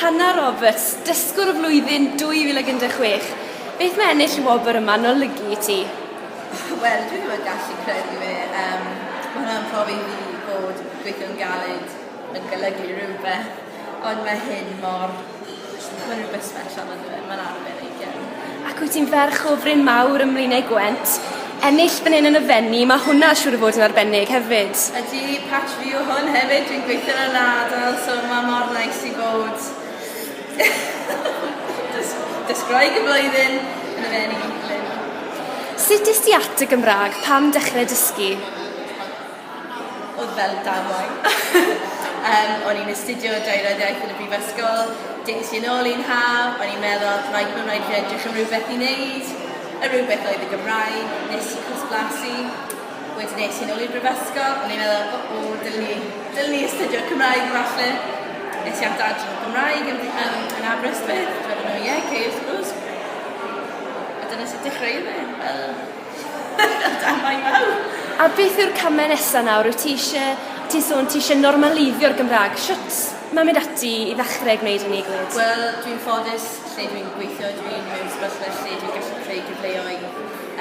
Hannah Roberts, Dysgwr y Flwyddyn 2016, beth mae ennill y wobr yma yn olygu i ti? Wel, dwi ddim yn gallu credu fe. Yym, ma' hwnna'n profi i fi bod gweithio'n galed yn golygu rhywbeth, ond mae hyn mor... Mae rhywbeth sbesial ynddo fe, mae'n arbennig iawn. Ac wyt ti'n ferch o fryn mawr ym Mlaenau Gwent, ennill fan hyn yn y Fenni, mae hwnna siŵr o fod yn arbennig hefyd. Ydy, patch fi yw hwn hefyd, dwi'n gweithio yn y ladl so mae mor neis i fod dros Groeg y flwyddyn yn y Fenni. Sut es di at y Gymraeg, pam dechrau dysgu? Oedd fel damwain. Yym o'n i'n astudio Daearyddiaeth yn y Brifysgol, des i yn ôl un haf, o'n i'n meddwl rhaid bod rhaid fi edrych am rywbeth i neud, y rywbeth oedd y Gymraeg, nes i cwrs blasu, wedyn es i yn ôl i'r Brifysgol, o'n i'n meddwl o o dylwn i dylwn i astudio Cymraeg falle, es i at adran Gymraeg yn yym yn Aberystwyth, a dyna ni, ie, ok wrth gwrs. A dyna sut dechreuodd e, fel... Da iawn iawn. A beth yw'r came nesa nawr wyt ti isie ti'n sôn ti isie normaleiddio'r Gymra'g shwt ma' mynd ati i ddechre gwneud hynny glyd? Wel dwi'n ffodus lle dwi'n gweithio dwi mewn sefyllfa lle dwi'n gallu creu cyfleoedd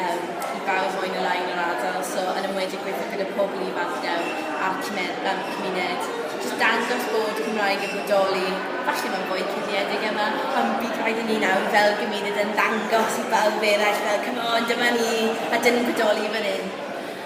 yym i bawb mwy ne' lai yn yr ardal so yn enwedig gweithio gyda pobol ifanc nawr a'r cyme- yym cymuned, jyst dangos bod y Gymraeg yn bodoli, falle mae'n fwy cuddiedig yma, ond bydd rhaid i ni nawr fel gymuned yn ddangos i bawb eraill fel come on dyma ni a dyn ni'n bodoli fan hyn.